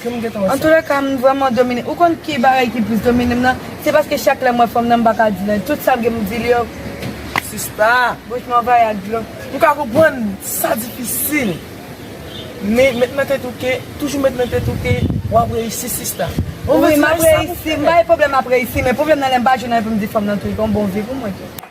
Antoulèka m vrèman domine. Ou konn ki bagay ki plis domine m nan? Se paske chak lè m wè fanm nan m pa ka di nan. Tout sa m gen pou m di li yo, bouch m anvayi ak dlo. M ka konprann sa difisil, men met nan tèt ou ke, toujou met nan tèt ou ke w ap reyisi sista. Wi m ap reyisi, m pa gen pwoblèm m ap reyisi, men pwoblèm nan lè m pa jwenn anyen pou m di fanm nan tou, li pa yon bon vi pou mwen tou.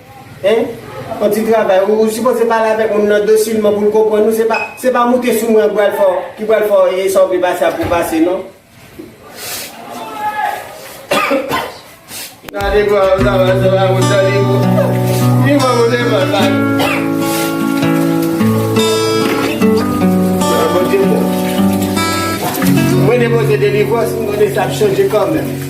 Hein on ti travay ou sipoze pale avèk moun nan dosilman poul konprann ou se pa moute sou mwen ki pral fè w e sa ou vle pase a pou w pase non. Gade kman wap travay se pa moute sa li pou li pa moute pral pase. Bon Dieu bon. Mwen depoze delivrans m konnen sa ap chanje kanmenm.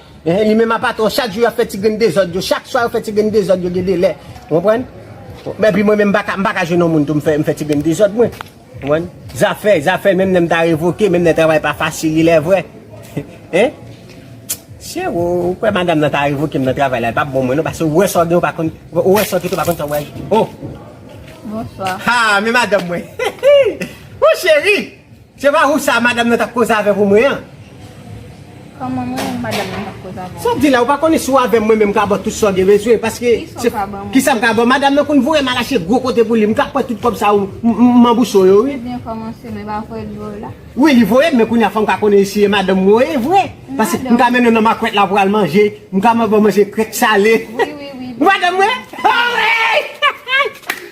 Ehe li menm a patron chak jou yap fè ti grenn dezòd yo chak swa yo fè ti grenn dezòd yo gen delè ou konprann epi mwen menm m paka jwenn yon moun tou m fè m fè ti grenn dezòd mwen ou konprann zafè zafè menm lèm ta revoke menm lè travay pa fasil li lè vre hein chero ou kwè madam nan ta revoke m nan travay la li pap bon mwen non pase ou wè sa w gen ou pa konn ou wè sa w kite ou pa konn sa w pral gen oh Bonsoir. Haa men madanm mwen. Hihii. Woo cheri. Se pa ou sa madam nan tap koze avè pou mwen an. Koman mwen menm madam nan tap koze avè pou mwen. Sòw di la ou pa konnen si ou avèm mwen menm mka baw tout sa ou gen bezwen paske se kisa mka baw madam nan konn voyem al achte gwo kote pou li mka pran tout kòb sa ou manbouche w yo wi. Ou byen kòmanse men pa voyel voyew la. Wi li voyem men kounya fòm ka konnen si e madanm mwen ye vre paske mka mennen nan makwèt la pou al manje mka man baw manje krèk sale. Wi wi wi. Ou madanm mwen? Ohh weyy!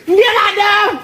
Mgen madanm!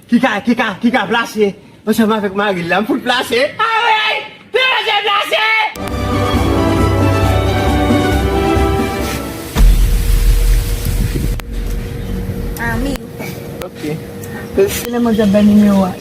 Ki ka ki ka ki ka plase ansanm avèk maril la m fout plase aweyy te manje plase. Anmyy. Ok. Sele mwen te bay nimewo a.